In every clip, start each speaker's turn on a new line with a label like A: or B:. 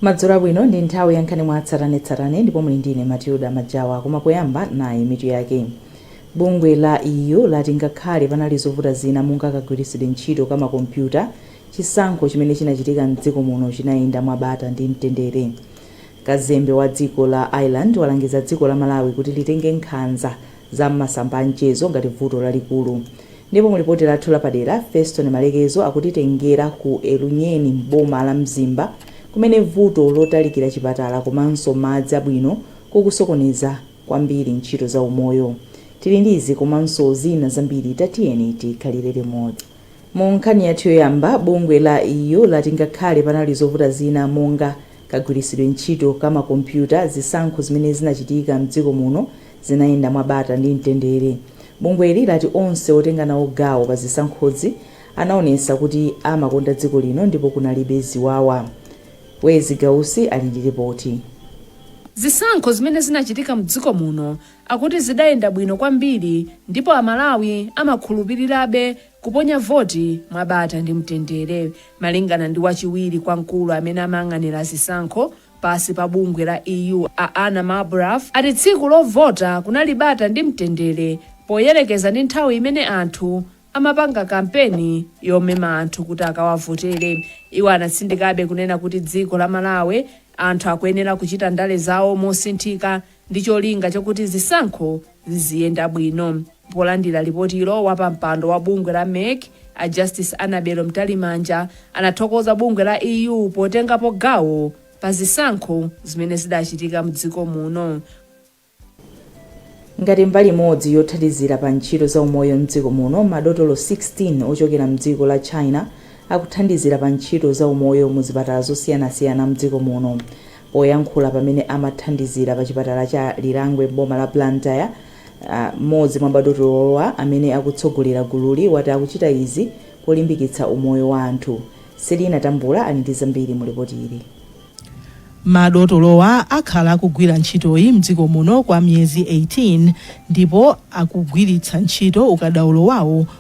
A: Madzulo abwino, ndi nthawi ya nkhani mwa tsatanetsatane ndipo muli ndi ine Matilda Majawa koma poyamba nayi mitu yake. Bungwe la EU lati ngakhale panali zovuta zina monga kagwiritsidwe ntchito ka makompyuta, chisankho chimene chinachitika m'dziko muno chinayenda mwa bata ndi mtendere. Kazembe wa dziko la Ireland walangiza dziko la Malawi kuti litenge nkhanza za m'masamba a mchezo ngati vuto lalikulu. Ndipo mu lipoti lathu lapadera, Feston Malekezo akutitengera ku Elunyeni m'boma la Mzimba kumene vuto lotalikira chipatala komanso madzi abwino kukusokoneza kwambiri ntchito za umoyo. Tili ndi izi komanso zina zambiri tatiyeni tikhalire limodzi. Mu nkhani yathu yoyamba, bungwe la EU lati ngakhale panali zovuta zina monga kagwiritsidwe ntchito ka ma kompyuta, zisankho zimene zinachitika m'dziko muno zinayenda mwa bata ndi mtendere. Bungweli lati onse otenga nawo gawo pa zisankhozi anaonesa kuti amakonda dziko lino ndipo kunalibe ziwawa. Wezi Gausi ali ndi lipoti. Zisankho
B: zimene zinachitika m'dziko muno akuti zidayenda bwino kwambiri ndipo Amalawi amakhulupirirabe kuponya voti mwa bata ndi mtendere. Malingana ndi wachiwiri kwa mkulu amene amayang'anira zisankho pansi pa bungwe la EU a Anna Marbuff ati tsiku lovota kunali bata ndi mtendere poyerekeza ndi nthawi imene anthu amapanga kampeni yomema anthu kuti akawavotere. Iwo anatsindikabe kunena kuti dziko la Malawi anthu akuyenera kuchita ndale zawo mosinthika. ndi cholinga chakuti zisankho ziziyenda bwino. Polandira lipotilo, wapampando wa bungwe la MEC, a Justice Annabel Mtalimanja, anathokoza bungwe la EU potengapo gawo pa zisankho zimene zidachitika m'dziko
A: muno. Ngati mbali imodzi yothandizira pa ntchito za umoyo m'dziko muno, madotolo 16 ochokera m'dziko la China akuthandizira pa ntchito za umoyo mu zipatala zosiyanasiyana m'dziko muno. Poyankhula pamene amathandizira pa chipatala cha Lirangwe m'boma la Blantyre, m'modzi mwa madotolowa amene akutsogolera gululi wati akuchita izi polimbikitsa umoyo wa anthu. Selina Tambula ali ndi zambiri mu lipoti ili. Madotolowa
C: akhala akugwira ntchitoyi mdziko muno kwa miyezi 18 ndipo akugwiritsa ntchito ukadaulo wawo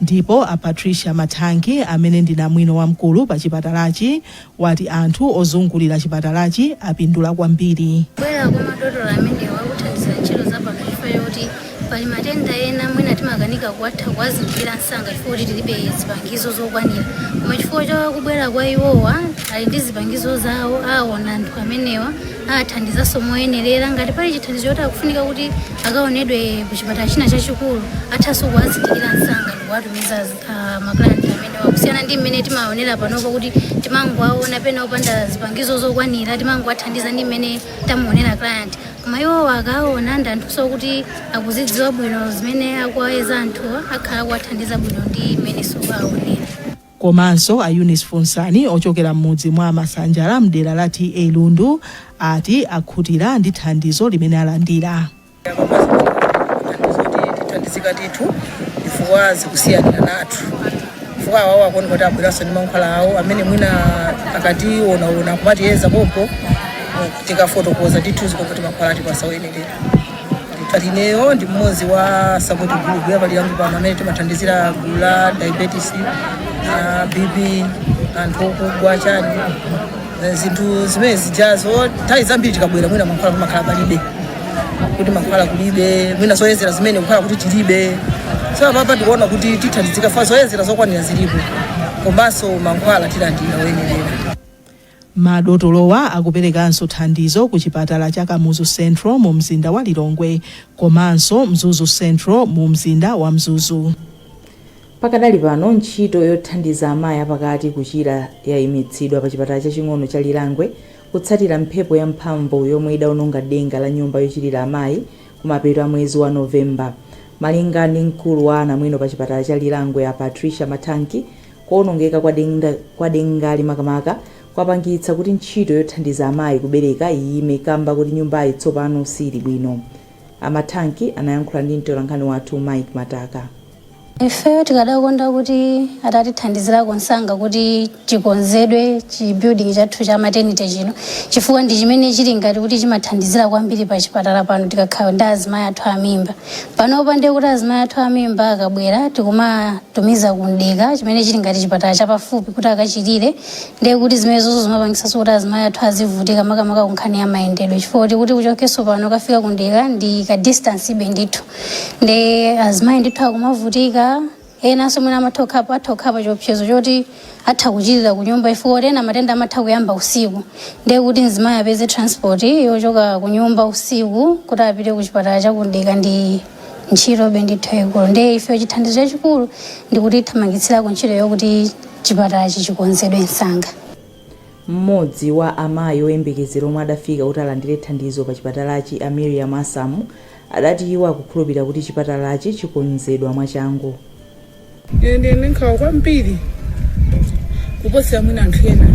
C: Ndipo a Patricia Mathangi amene ndi namwino wamkulu pa chipatalachi wati anthu ozungulira chipatalachi apindula kwambiri. Kubwera kwa madotolo
D: amenewa kuthandizira ntchito za pano chifukwa choti pali matenda ena mwina timakanika kuwatha kuwazindikira msanga chifukwa choti tilibe zipangizo zokwanira koma chifukwa cha kubwera kwa iwowa ali ndi zipangizo zawo aona anthu amenewa athandizanso moyenerera ngati pali chithandizo choti akufunika kuti akaonedwe ku chipatala china chachikulu athanso kuwazindikira msanga ndikuwatumiza uh, maclient amenewa kusiyana ndi mmene timaonera panopo kuti timangowaona pena opanda zipangizo zokwanira timangowathandiza ndi mmene tamuonera client koma iwowa akaona ndi anthunso kuti akuzidziwa bwino zimene akuwayeza anthuwa akhala akuwathandiza bwino ndi mmenenso akuwaonera
C: Komanso a Eunice Funsani ochokera m'mudzi mwa Masanjala m'dera la TA Lundu ati akhutira ndi thandizo limene alandira. Thandizo ndi
E: tithandizika ndithu chifukwa zikusiyaniranatu chifukwa awawo akuoneka kuti abweranso ndi mankhwala awo amene mwina akatiwonaona kumatiyeza pompo tikafotokoza ndithu zikuoneka kuti mankhwala atipasa oyenerera. Ineyo ndi mmodzi wa support group ya pa Lirangwe pano amene timathandizira gulu la diabetes na BP anthu okugwa chani Eh, zinthu zimene zijazo nthawi zambiri tikabwera mwina mankhwala pamakhala palibe kuti mankhwala kulibe mwina zoyezera zimene kukhala kuti tilibe so apapa tikuona kuti tithandizika fa zoyezera zokwanira zilipo komanso mankhwala tilandira oyenerera Madotolowa
C: akuperekanso thandizo ku chipatala cha Kamuzu Central mu mzinda wa Lilongwe komanso Mzuzu Central mu mzinda wa Mzuzu.
A: Pakadali pano, ntchito yothandiza amayi apakati kuchira yaimitsidwa pa chipatala chaching'ono cha Lirangwe kutsatira mphepo ya mphamvu yomwe idaononga denga la nyumba yochilira amayi kumapeto a mwezi wa November. Malinga ndi mkulu wa anamwino pa chipatala cha Lirangwe a Patricia Mathanki, kuonongeka kwa dengali makamaka kwapangitsa kuti ntchito yothandiza amayi kubereka iyime kamba koti nyumbayi tsopano siili bwino. A Mathanki anayankhula ndi mtolankhani wathu Mike Mataka.
D: ifeyo tikadakonda kuti atatithandizirako nsanga kuti chikonzedwe chi building chathu cha maternity chino chifukwa ndi chimene chili ngati kuti chimathandizira kwambiri pa chipatala pano tikakhala ndi azimayi athu amimba panopa ndiye kuti azimayi athu amimba akabwera tikumatumiza ku Mdeka chimene chili ngati chipatala chapafupi kuti akachilire ndiye kuti zimenezozo zimapangisanso kuti azimayi athu azivutika makamaka kunkhani ya mayendedwe chifukwa kuti kuti uchokenso pano ukafika ku Mdeka ndi ka distancebe ndithu ndi azimayi ndithu akumavutika enanso mwina amatha kukhala atha kukhala pa chiopsezo choti atha kuchilira ku nyumba chifukwa kuti ena matenda amatha kuyamba usiku ndiye kuti mzimayi apeze transport yochoka ku nyumba usiku kuti apite ku chipatala cha ku Mdeka ndi ntchitobe ndithu yaikulu ndiye ife chithandizo chachikulu ndi kuti atathamangitsirako ntchito yokuti chipatalachi chikonzedwe msanga
A: mmodzi wa amayi oyembekezera omwe adafika kuti alandire thandizo pa chipatalachi a Miriam Asamu adati iwo akukhulupirira kuti chipatalachi chikonzedwa mwachangu.
E: Ine ndili ndi nkhawa kwambiri kuposera mwina anthu ena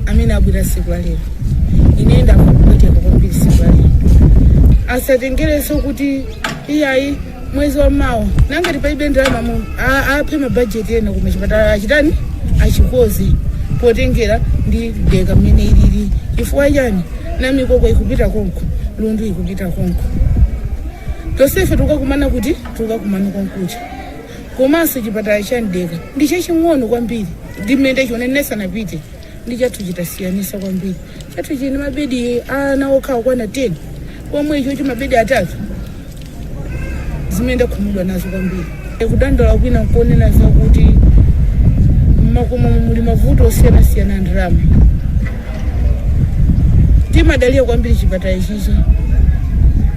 E: amene abwera tsiku la lero. Ine ndakupweteka kwambiri tsiku la lero. Asatengerenso kuti iyayi mwezi wa mawa nangati palibe ndalama mu a- aphe mabajeti ena koma chipatala achitani achikonze potengera ndi Mdeka mmene ilili chifukwa chani Namikoko ikupita konko Lundu ikupita konko tonsefe tukakumana kuti tukakumana konkuja komanso chipatala cha Mdeka ndi chaching'ono kwambiri ndi mmene chionenesa napite ndi chathu chitasiyanisa kwambiri chathu chili ndi mabedi ana okha okwana 10 pomwe icho mabedi atatu zimene ndakhumudwa nazo kwambiri kudandaula kwina nkunena zakuti mmakomo muli mavuto osiyanasiyana a ndalama timadalira kwambiri chipatala ichichi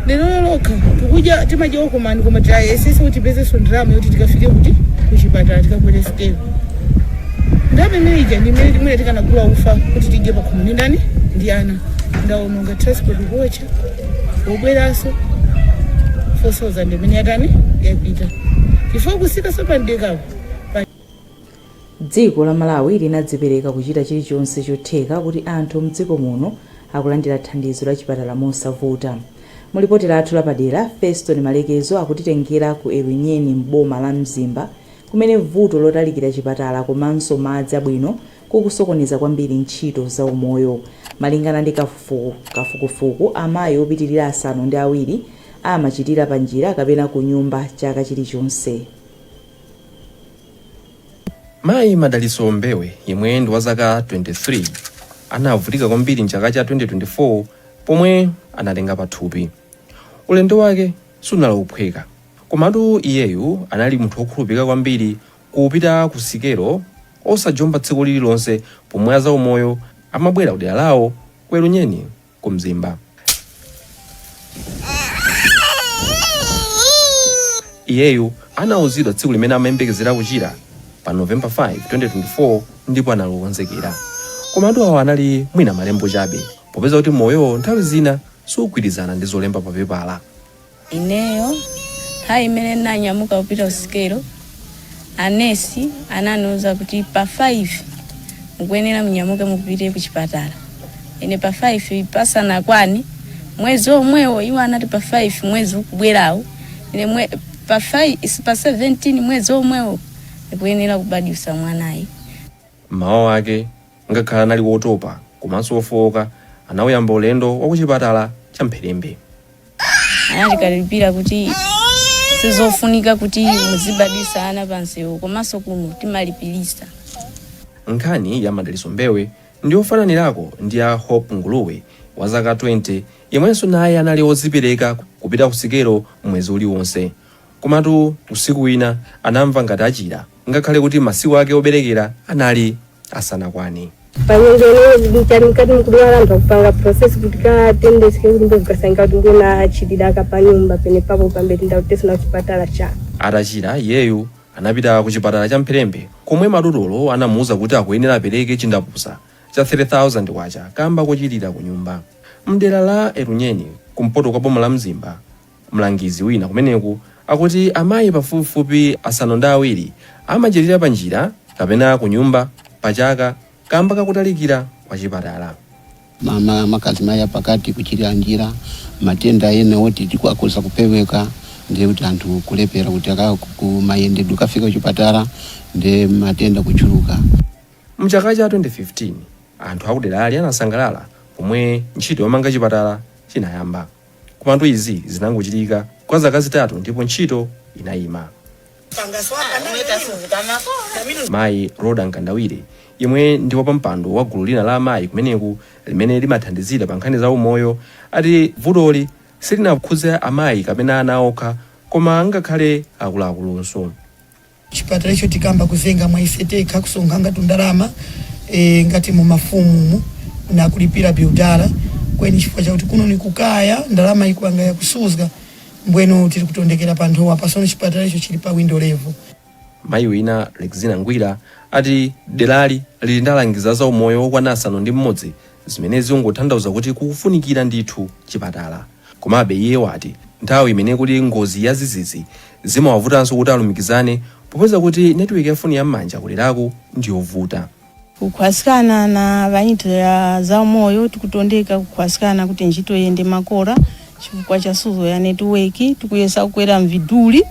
E: lero lokha tikudya simadya okomani koma tayesetsa kuti tipezenso ndalama yoti tikafike kuti kuchipatala tikakwere sikelo ndalama imene ija ndi imene imene tikanagula ufa kuti tidye pakhomo ndi ndani ndi ana ndaononga transport kuocha kubweranso 4000 imene yatani yapita chifukwa kusika
A: sopanidekapo dziko la Malawi linadzipereka kuchita chilichonse chotheka kuti anthu mdziko muno akulandira thandizo la chipatala mosavuta mu lipoti lathu lapadera Feston Malekezo akutitengera ku Elunyeni m'boma la Mzimba kumene vuto lotalikira chipatala komanso madzi abwino kukusokoneza kwambiri ntchito za umoyo. Malingana ndi kafukufuku amayi opitilira asanu ndi awiri amachilira pa njira kapena kunyumba chaka chilichonse.
F: Mayi Madalitso Mbewe yemwe ndi wa zaka 23 anavutika kwambiri m'chaka cha 2024 pomwe anatenga pathupi. Ulendo wake sunali wophweka komatu iyeyu anali munthu wokhulupilika kwambiri kupita ku sikelo osajomba tsiku lililonse pomwe azaumoyo amabwera kudera lawo ku Elunyeni ku Mzimba. Iyeyu anauzidwa tsiku limene amayembekezera kuchira pa November 5, 2024 ndipo anali wokonzekera. Komatu awa anali mwina malembo chabe popeza kuti moyo nthawi zina siugwirizana ndi zolemba papepala.
G: Ineyo nthawi imene ndinanyamuka kupita kusikelo anesi ananiuza kuti pa 5 mukuyenera munyamuke mupite ku chipatala ine pa 5 pasanakwani mwezi omwewo iwo anati pa 5 mwezi ukubwerawo ine mwe, pa 5 is- pa 17 mwezi omwewo ndikuyenera kubadwitsa mwanayu Mmawa
F: wake Ngakhale anali wotopa komanso wofooka, anauyamba ulendo wa kuchipatala cha Mpherembe.
G: Anatikalipira kuti sizofunika kuti muzibadwisa ana pa msewu komanso kuno timalipilisa.
F: Nkhani ya Madalitso Mbewe ndi yofananirako ndi ya Hope Nguluwe wa zaka 20 yemwenso naye anali odzipereka kupita ku sikelo mwezi uliwonse. Komatu usiku wina anamva ngati achira ngakhale kuti masiku ake oberekera anali asanakwane. panyengo ineyo
H: zidikani mkati mkudwala anthu akupanga process kuti ka tendesi kekulimbe kukasangika kuti ndiyona achilira waka panyumba penepapo pambeti ndakutesana kuchipatala cha Atachira
F: iyeyu anapita ku chipatala cha Mpherembe komwe madotolo anamuuza kuti akuyenera apereke chindapusa cha 3,000 kwacha kamba kochilira ku nyumba. Mdera la Elunyeni kumpoto kwa boma la Mzimba Mlangizi wina kumeneku akuti amayi pafupifupi asanu ndi awiri amachilira panjira kapena kunyumba pachaka kamba kakutalikira kwa chipatala.
I: Makamaka azimayi apakati kuchilira njira, matenda ena oti akhoza kupeweka ndiye kuti anthu kulephera kuti mayendedwe kukafika kuchipatala ndiye matenda kuchuluka. Mchaka
F: cha 2015 anthu akuderali anasangalala pomwe ntchito yomanga chipatala chinayamba. Komatu izi zinangochitika kwa zaka zitatu ndipo ntchito inayima. Mayi Rhoda Mkandawire, yemwe ndi wapampando wa gulu lina la amayi kumeneku limene limathandizira pa nkhani za umoyo, ati vutoli silinakhudze amayi kapena ana okha koma ngakhale akuluakulunso.
J: chipatala icho tikamba kuzenga mwa ise tekha kusonkhanga tundalama e, ngati mu mafumu na kulipila builder kweni chifukwa chakuti kuno ni kukaya ndalama ikuwanga ya kusuzga mbwenu tili kutondekela pa nthowa pasono chipatala icho chili pa window level Mayi
F: wina Lexina Ngwira ati derali lili ndi alangizi a zaumoyo okwana asanu ndi mmodzi zimene zingothandauza kuti kukufunikira ndithu chipatala. Komabe iye wati nthawi imene kuli ngozi yadzidzidzi zimawavutanso kuti alumikizane popeza kuti netiweki ya foni ya m'manja kuderaku ndiyovuta. Kukhwaskana
G: na banchito ya za umoyo tikutondeka kukhwaskana kuti nchito iyende makora chifukwa cha suzgo ya netiweki. Tikuyesa kukwera mviduli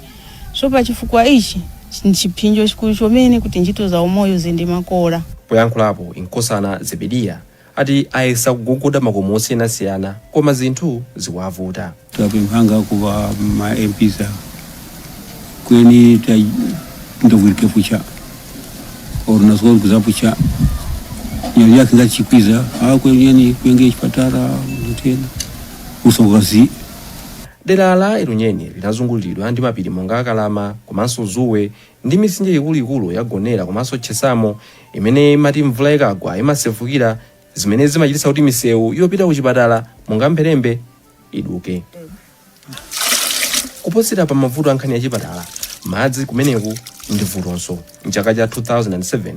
G: so pa chifukwa ichi ni chiphinjo chikulu chomene kuti nchito za umoyo ziyende makora. Poyankhulapo
F: inkosana Zebediya ati ayesa kugogoda makomo osiyanasiyana koma zinthu zikuwavuta. tapemphanga
K: ku va ma MPs ava kweni tandovwirike pucha or naswali kuzapucha nyali yake ngachikwiza a kweni yani kwenge chipatala tena usokazi
F: Dera la Elunyeni linazunguliridwa ndi mapiri monga Kalama komanso Zuwe ndi mitsinje ikuluikulu ya Gonera komanso Chesamo imene imati mvula ikagwa imasefukira zimene zimachititsa kuti misewu yopita kuchipatala monga Mpherembe iduke. Kuposera pa mavuto a nkhani ya chipatala, madzi kumeneko ndi vutonso. M'chaka cha 2007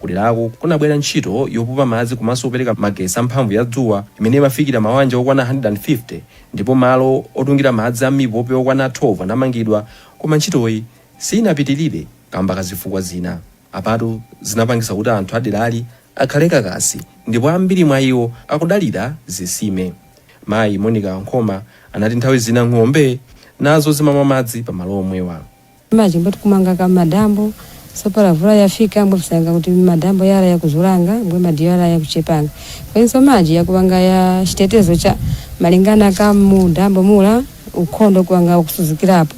F: kuderaku kunabwera ntchito yopopa madzi komanso kupereka magetsi a mphamvu ya dzuwa imene imafikira mawanja okwana 150 ndipo malo otungira madzi a mipope okwana 12 anamangidwa koma ntchitoyi sinapitirire kamba ka zifukwa zina. Apatu zinapangisa kuti anthu aderali akhale kakasi ndipo ambiri mwa iwo akudalira zisime. Mayi Monica Nkhoma anati nthawi zina ng'ombe nazo zimamwa madzi pa malo omwewa. Maji mbwe
L: tikumwanga kumadambo so pala vula yafika mbwe tikusanga kuti madambo yala yakuzulanga mbwe maji yala yakuchepanga kwenso maji yakuwanga ya chitetezo cha malingana ka mu dambo mula ukhondo ukuwanga wakusuzgirapo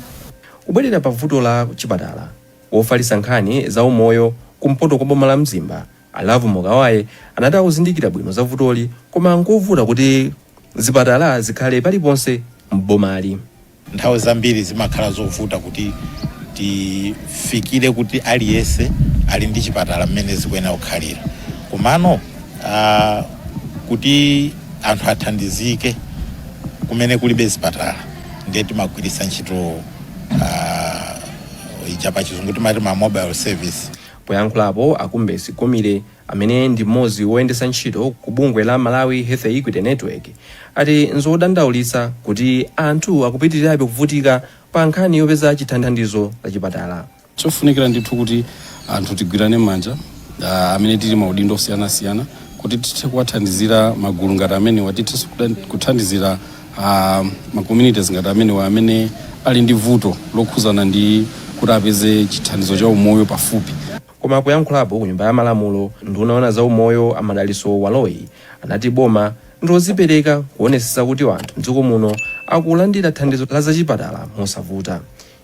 L: Kubwerera
F: pa vuto la chipatala, wofalitsa nkhani za umoyo kumpoto kwa boma la Mzimba, a Lovemore Kawaye anati akuzindikira bwino za vutoli koma nkovuta kuti zipatala zikhale paliponse m'bomali. Nthawi
M: zambiri zimakhala zovuta kuti tifikire kuti aliyense ali ndi chipatala mmene zikuyenera kukhalira komano ah, kuti anthu athandizike kumene kulibe zipatala. ndiye timagwiritsa ntchito uh, ija pa chizungu timati ma mobile service. Poyankhulapo
F: a Kumbesi Gomile amene ndi mmodzi woyendetsa ntchito ku bungwe la Malawi Health Equity Network ati nzodandaulitsa kuti anthu akupitirirabe kuvutika pa nkhani yopeza chithandizo la chipatala Chofunikira
K: ndithu kuti anthu tigwirane manja amene tili maudindo osiyanasiyana kuti tithe kuwathandizira magulu ngati amenewa tithe kuthandizira ma communities ngati amenewa amene ali ndi vuto lokhuzana ndi kuti apeze chithandizo cha umoyo pafupi. Koma
F: poyankhulapo ku nyumba ya malamulo nduna yoona za umoyo a Madalitso Baloyi anati boma ndi lodzipereka kuonesesa kuti anthu mdziko muno akulandira thandizo la zachipatala mosavuta.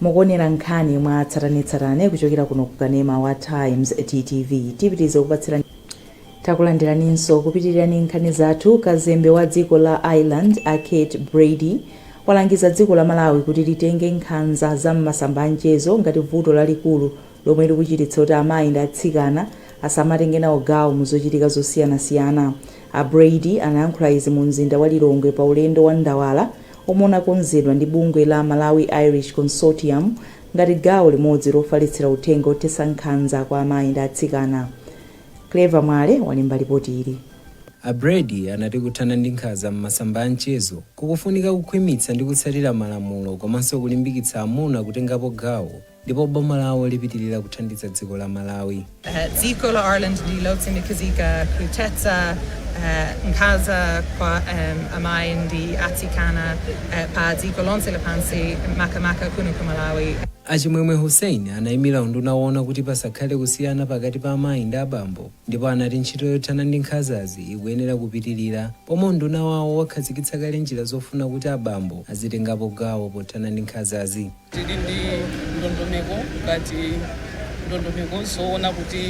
A: Mukuonera nkhani mwa tsatanetsatane kuchokera kuno ku kanema wa Times TTV. Tipitiriza kupatsirani Takulandiraninso kupitiriza nkhani zathu. Kazembe wa dziko la Ireland a Kate Brady walangiza dziko la Malawi kuti litenge nkhanza za m'masamba a mchezo ngati vuto lalikulu lomwe likuchititsa kuti amayi ndi atsikana asamatenge nawo gawo mu zochitika zosiyanasiyana. A Brady anayankhula izi mu mzinda wa Lilongwe pa ulendo wa ndawala omwe unakonzedwa ndi bungwe la Malawi Irish Consortium ngati gawo limodzi lofalitsira uthenga othetsa nkhanza kwa amayi ndi atsikana. Clever Mwale walemba lipoti ili. A Brady
N: anati kuthana ndi nkhanza m'masamba a mchezo kukufunika kukhwimitsa ndi kutsatira malamulo komanso kulimbikitsa amuna kutengapo gawo. Ndipo boma lawo lipitilira kuthandiza dziko la Malawi. Dziko
O: la Ireland ndi lotsimikizika kuthetsa nkhanza kwa amayi ndi atsikana pa dziko lonse lapansi makamaka kuno ku Malawi. A Chimwemwe
N: Hussein anayimira unduna woona kuti pasakhale kusiyana pakati pa amayi ndi abambo ndipo anati ntchito yothana ndi nkhanzazi ikuyenera kupitilira pomwe unduna wawo wakhazikitsa kale njira zofuna kuti abambo azitengapo gawo pothana ndi nkhanzazi. Tili ndi
P: ndondomeko ngati ndondomeko zoona kuti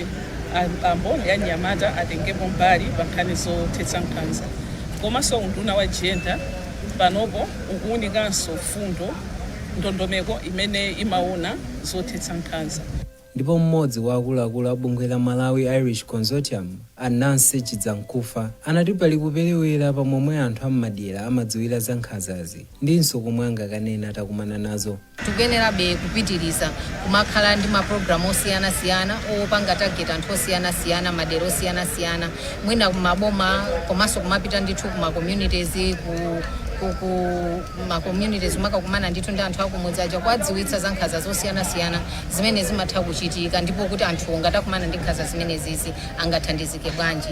P: abambo ndi anyamata atengepo mbali pa nkhani zothetsa nkhanza. Komanso unduna wa jenda panopo ukuunikanso fundo ndondomeko imene imaona zothetsa nkhanza. Ndipo
N: mmodzi wa akuluakulu a bungwe la Malawi Irish Consortium, a Nancy Chidzamkufa, anati pali kuperewera pa momwe anthu a m'madera amadziwira za nkhanzazi ndinso komwe angakanene atakumana nazo. Tikuyenerabe
Q: kupitiriza kumakhala ndi mapulogalamu osiyanasiyana opanga target anthu osiyanasiyana m'madera osiyanasiyana, mwina ku maboma komanso kumapita ndithu ku ma communities, ku ma communities kumakakumana ndithu ndi anthu akumudzi aja kuwadziwitsa za nkhanza zosiyanasiyana. zimene zimatha kuchitika ndipo kuti anthuwo ngati akumana ndi nkhanza zimenezizi angathandizike bwanji.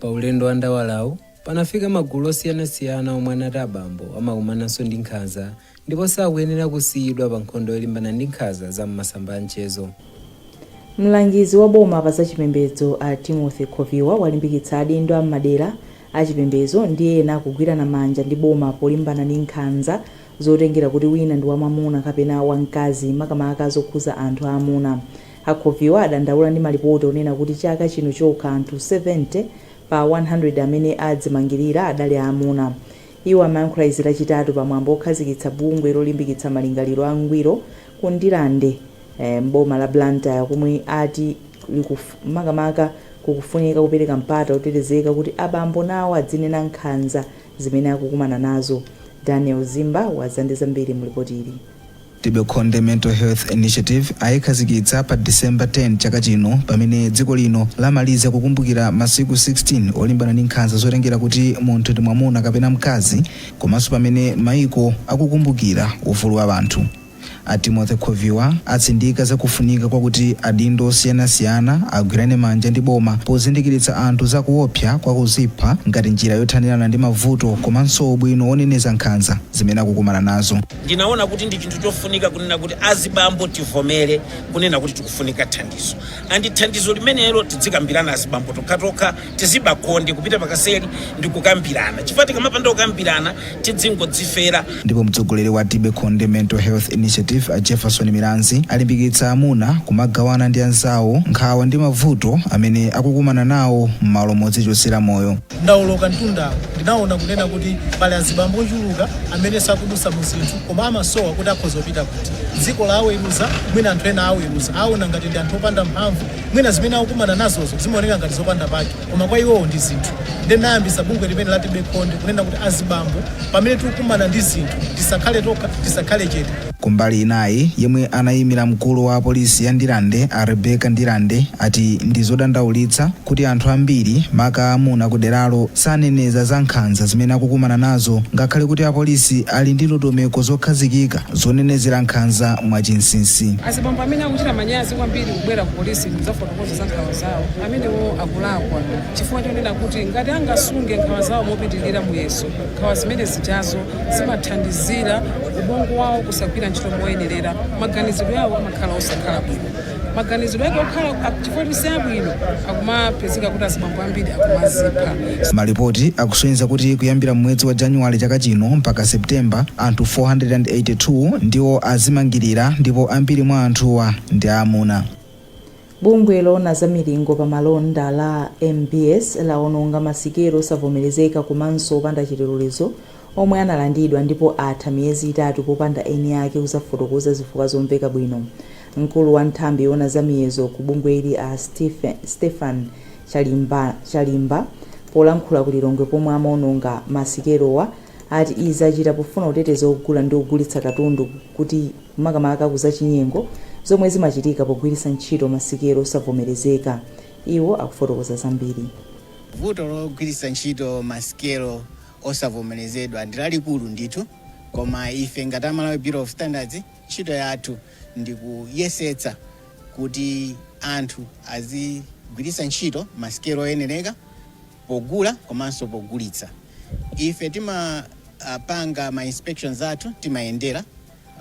Q: Pa ulendo wa
N: ndawalawu, panafika magulu osiyanasiyana omwe anati abambo amakumananso ndi nkhanza ndipo sakuyenera kusiyidwa pa nkhondo yolimbana ndi nkhanza za m'masamba a mchezo.
A: Mlangizi wa boma pa zachipembedzo a Timothy Khoviwa walimbikitsa adindo a m'madera achipembedzo ndi ena kugwirana manja ndi boma polimbana ndi nkhanza zotengera kuti wina ndi wamwamuna kapena wamkazi makamaka zokhuza anthu aamuna. A Khoviwa adandaula ndi malipoti onena kuti chaka chino chokha anthu 70 pa 100 amene adzimangirira adali aamuna. Iwo amayankhula izi lachitatu pa mwambo okhazikitsa bungwe lolimbikitsa malingaliro a ngwiro ku Ndirande m'boma la Blantyre komwe ati makamaka kukufunika kupereka mpata otetezeka kuti abambo nawo adzinena nkhanza zimene akukumana nazo. Daniel Zimba wadza ndi zambiri mu lipoti ili. Tibekonde
R: Mental Health Initiative ayikhazikitsa pa December 10 chaka chino pamene dziko lino lamaliza kukumbukira masiku 16 olimbana ndi nkhanza zotengera kuti munthu ndi mwamuna kapena mkazi komanso pamene maiko akukumbukira ufulu wa anthu. A Timothy Khoviwa atsindika za kufunika kwakuti adindo osiyanasiyana agwirane manja ndi boma pozindikiritsa anthu za kuopsa kwa kuzipha ngati njira yothanirana ndi mavuto komanso ubwino woneneza nkhanza zimene akukumana nazo. Ndinaona kuti ndi
S: chinthu chofunika kunena kuti azibambo tivomere kunena kuti tikufunika thandizo and thandizo limenelo tidzikambirana azibambo tokhatokha, Tibe Konde kupita pakaseri ndi kukambirana chifukwa tikamapanda kukambirana tidzingodzifera. Ndipo
R: mtsogoleri wa Tibe Konde Mental Health Initiative a Jefferson Milanzi alimbikitsa amuna kumagawana ndi anzawo nkhawa ndi mavuto amene akukumana nawo mmalo modzichotsera moyo. Ndawoloka
T: mtundawo, ndinawona kunena kuti pali azibambo ochuluka amene akudusa mu zinthu koma amasowa kuti akhoza kupita kuti. Dziko laweruza, mwina anthu ena aweruza, awona ngati ndi anthu opanda mphamvu, mwina zimene akukumana nazozo zimaoneka ngati zopanda pake koma kwa iwowo ndi zinthu. Ndiye ndinayambisa bungwe limeneli la Tibe Konde kunena kuti azibambo pamene tikukumana ndi zinthu tisakhale tokha, tisakhale chete. Kumbali inayi,
R: yemwe anayimira mkulu wa polisi ya Ndirande a Rebecca Ndirande ati ndizodandaulitsa, kuti anthu ambiri, maka amuna, kuderalo saneneza za nkhanza zimene akukumana nazo ngakhale kuti apolisi ali ndi ndondomeko zokhazikika zonenezera nkhanza mwachinsinsi. Azibambo amene akuchita
U: manyazi kwambiri kubwera kupolisi kudzafotokoza za nkhawa zawo, amenewo akulakwa chifukwa chonena kuti ngati angasunge nkhawa zawo mopitirira muyeso, nkhawa zimene zijazo zimathandizira ubongo wawo kusagwira ntchito moyenerera, maganizidwe awo amakhala osakhala bwino. maganizidwe ake okhala chifukwa siabwino akumapezeka kuti azibambo ambiri akumazipha
R: Malipoti akusonyeza kuti kuyambira m'mwezi wa January chaka chino mpaka September, anthu 482 ndiwo azimangirira ndipo ambiri mwa anthuwa ndi amuna.
A: Bungwe loona za milingo pa malonda la MBS lawononga masikelo osavomerezeka komanso opanda chilolezo omwe analandidwa ndipo atha miyezi itatu popanda eni ake kuzafotokoza zifukwa zomveka bwino. Mkulu wa nthambi yoona za miyezo ku bungweli a Stephen Chalimba polankhula ku Lilongwe pomwe amaononga ma sikelowa ati izi achita pofuna kuteteza ogula ndi ogulitsa katundu kuti makamaka ku zachinyengo zomwe zimachitika pogwiritsa ntchito ma sikelo osavomerezeka. Iwo akufotokoza zambiri. Vuto
B: logwiritsa ntchito ma sikelo osavomerezedwa ndi lalikulu ndithu koma ife ngati a Malawi Bureau of Standards ntchito yathu ndi kuyesetsa kuti anthu azigwiritsa ntchito masikelo oyenereka pogula komanso pogulitsa. Ife timapanga ma inspections athu, timayendera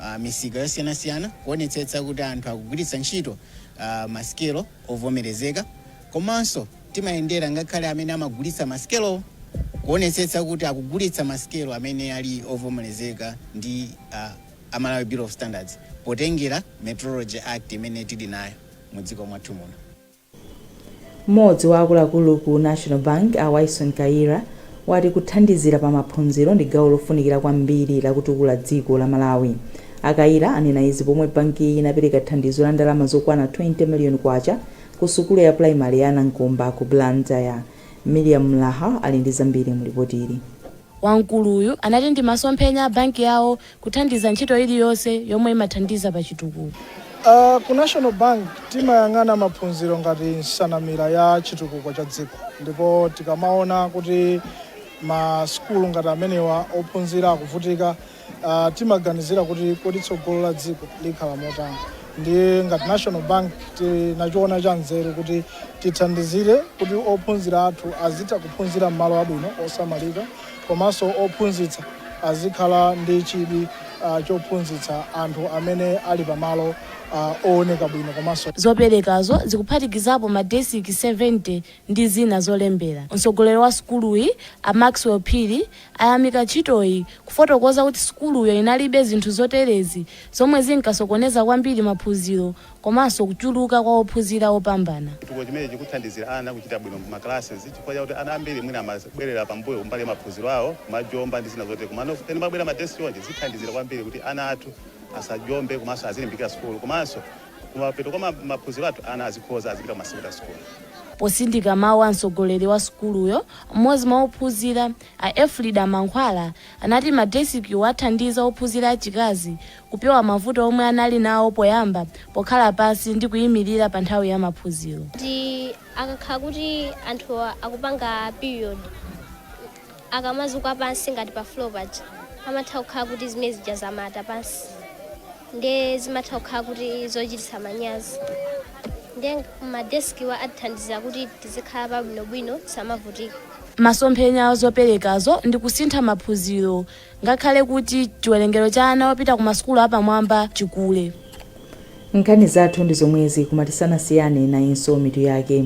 B: ah, misika yosiyanasiyana kuonetsetsa kuti anthu akugwiritsa ntchito ah, masikelo ovomerezeka komanso Timayendera ngakhale amene amagulitsa masikelowo kuonetsetsa kuti akugulitsa masikelo amene ali ovomerezeka ndi a a Malawi Bureau of Standards potengera Metrology Act imene tili nayo mu dziko mwathu muno.
A: M'modzi wa akuluakulu ku National Bank, a Wyson Kayira, wati kuthandizira pa maphunziro ndi gawo lofunikira kwambiri la kutukula dziko la Malawi. A Kayira anena izi pomwe bankiyi inapereka thandizo la ndalama zokwana 20 million kwacha Ku sukulu ya primary ya Nankomba ku Blantyre, Miriam Mlaha ali ndi zambiri mu lipotili. Wamkuluyu
V: anati ndi masomphenya a banki yawo kuthandiza ntchito iliyonse yomwe imathandiza pa chitukuko.
W: Ku National Bank timayang'ana maphunziro ngati nsanamira ya chitukuko cha dziko ndipo tikamaona kuti ma sukulu ngati amenewa ophunzira akuvutika, Uh, timaganizira kuti kodi tsogolo la dziko likhala motani ndiye ngati national bank tinachiona cha nzeru kuti tithandizire kuti ophunzira athu azitha kuphunzira m'malo abwino osamalika komanso ophunzitsa azikhala ndi chidwi uh, chophunzitsa anthu amene ali pamalo uh, ooneka bwino komanso zoperekazo
V: zikuphatikizapo madesiki 70 ndi zina zolembera mtsogoleri wa sukuluyi a maxwell phiri ayamika ntchitoyi, kufotokoza kuti sukuluyo inalibe zinthu zoterezi zomwe zinkasokoneza kwambiri maphunziro komanso kuchuluka kwa ophunzira opambana. Chitukuko chimenechi chikuthandizira
X: ana kuchita bwino m'ma classes chifukwa chakuti ana ambiri mwina amabwerera pambuyo kumbali ya maphunziro awo kumajomba ndi zina zotere komano pamene pabwera ma desk chonchi zithandizira kwambiri kuti ana athu asajombe komanso azilimbikira sukulu komanso kumapeto kwa maphunziro athu ana azikhoza azipita kuma secondary school. Posindika
V: mawu a mtsogoleri wa sukuluyo, Mmodzi mwa ophunzira, a Elfrida Mankhwala, anati madesikiwo athandiza ophunzira achikazi kupewa mavuto omwe anali nawo poyamba pokhala pansi ndi kuimirira pa nthawi ya maphunziro.
Y: ndi akakhala kuti anthu akupanga period akamazuka pansi ngati pa floor paja amatha kukhala kuti zimene zija zamata pansi. ndiye zimatha kukhala kuti zochititsa manyazi ndiye madesikiwa athandiza kuti tizikhala pabwinobwino tisamavutika Masomphenya
V: a zoperekazo ndi kusintha maphunziro ngakhale kuti chiwerengero cha ana opita ku masukulu apamwamba chikule.
A: nkhani zathu ndi zomwezi koma tisanasiyane nayinso mitu yake